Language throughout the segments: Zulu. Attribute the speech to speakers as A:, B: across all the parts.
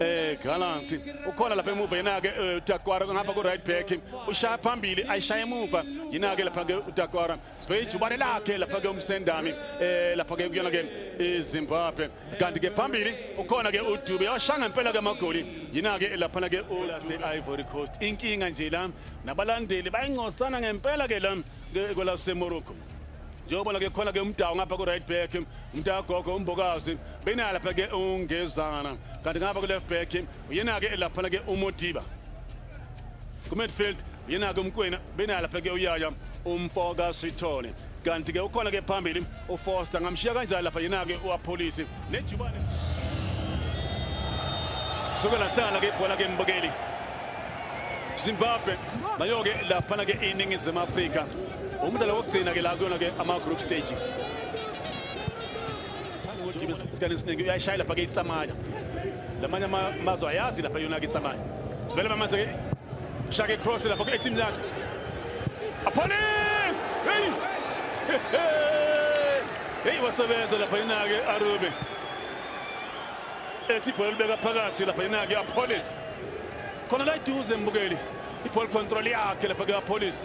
A: eh Gallants ukhona lapha emuva yena ke eh, uTakwara ngapha ku right back ushaya phambili ayishaya emuva yena ke lapha ke uTakwara sibheke ijubane lakhe lapha ke umsendami eh lapha ke kuyona ke iZimbabwe kanti ke phambili ukhona ke uDube yashanga impela ke amagoli yena ke lapha ke ulase Ivory Coast inkinga nje la nabalandeli bayincosana ngempela ke la kwelasemorocco njengobona ke khona ke umdawu ngapha ku-right back umntagogo umbokazi beyinaya lapha ke ungezana kanti ngapha ku-left back uyena-ke laphana ke umodiba ku-midfield uyena-ke umkwena beyinaya lapha ke uyaya umfoka sithole kanti ke ukhona ke phambili uFoster ngamshiya kanjani lapha yena-ke uApholisi nejubane suke lahlala-ke ibhola ke mbukeli Zimbabwe nayo-ke laphana-ke iningizimu Afrika umdlalo wokugcina-ke la kuyona-ke ama-group stage isikhathi esiningi uyayishaya lapha-ke itsamaya lamanye amazwe ayazi lapha yona-ke itsamaya vele bamanje-ke Shaka cross lapha kule team yakhe. Apolis! Hey! Hey wasebenza lapha inake Arube. Ethi bhola libeka phakathi lapha inake Apolis. Khona la iduze mbukeli. I-ball control yakhe lapha ke-apolice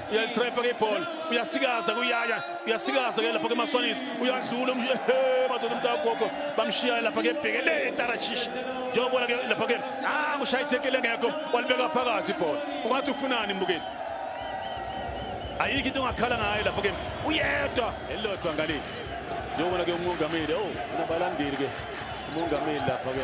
A: uyalitrepha ke ibhola uyasikaza kuyaya uyasikaza ke lapha kemaswanis uyadlula madoda umntu agogo bamshiyayo lapha ke bheke le tarashishi njengobona ke lapha ke ah kushaya ithekele ngekho walibeka phakathi ibhola ungathi ufunani mbukeli ayikho into ongakhala ngayo lapha ke uyedwa elilodwa ngaleli njengobona ke umongameli o oh, unabalandeli ke umongameli lapha ke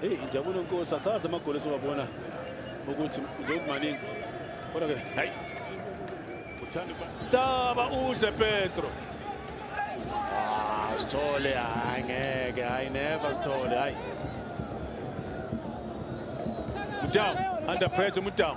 A: Hey injabulo nkosi asazi amagoli esiwabona ukuthi njengokumaningi. Kodwa ke hayi. Uthanda saba udle Petro. Ah, Sithole hayi ngeke hayi never Sithole hayi. Mdawu under pressure Mdawu.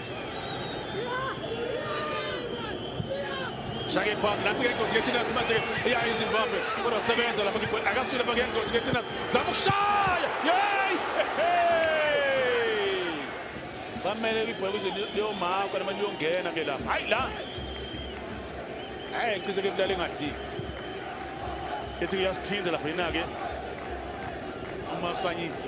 A: shake phasi nathi ke ingozi kethina simathe iya izimbabwe kodwa sebenza lapha ngibona akasile bake ingozi kethina zama ukushaya yey bamele ibhola kuze liyomaka noma liyongena ke lapha hayi la hayi cishe ke kulale engadliki ethi uyasiphinda lapha yina-ke umaswanyisa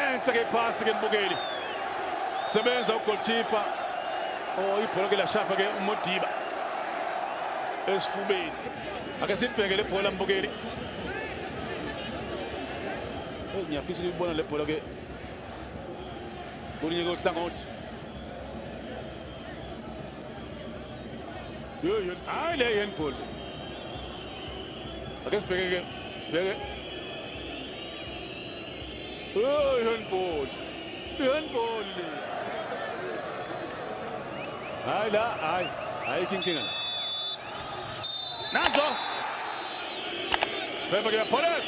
A: enhle ke iphasi ke mbukeli sebenza ugoalkeeper oh ibhola ke lashapha ke umodiba esifubeni ake sibheke le bhola mbukeli oh, ngiyafisa ukuyibona le bhola ke kolunye kohlangothi hayi le handball Ake sibheke ke sibheke Oh, handball. Handball. Hayi la, hayi. Hayi kinkinga. Nazo. Bheka ke Poles.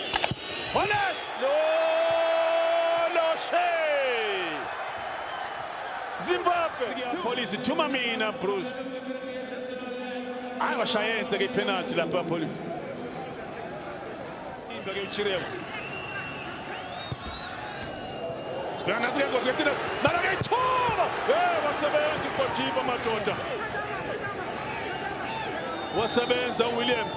A: Poles. Lo lo she. Zimbabwe. Police thuma mina Bruce. Hayi washaye enhle ke penalty lapha Police. Imba ke uChirema. Sibona nasi ke ngokuthi nathi nalo ke ithoba. Eh wasebenza uGojiba madoda. Wasebenza uWilliams.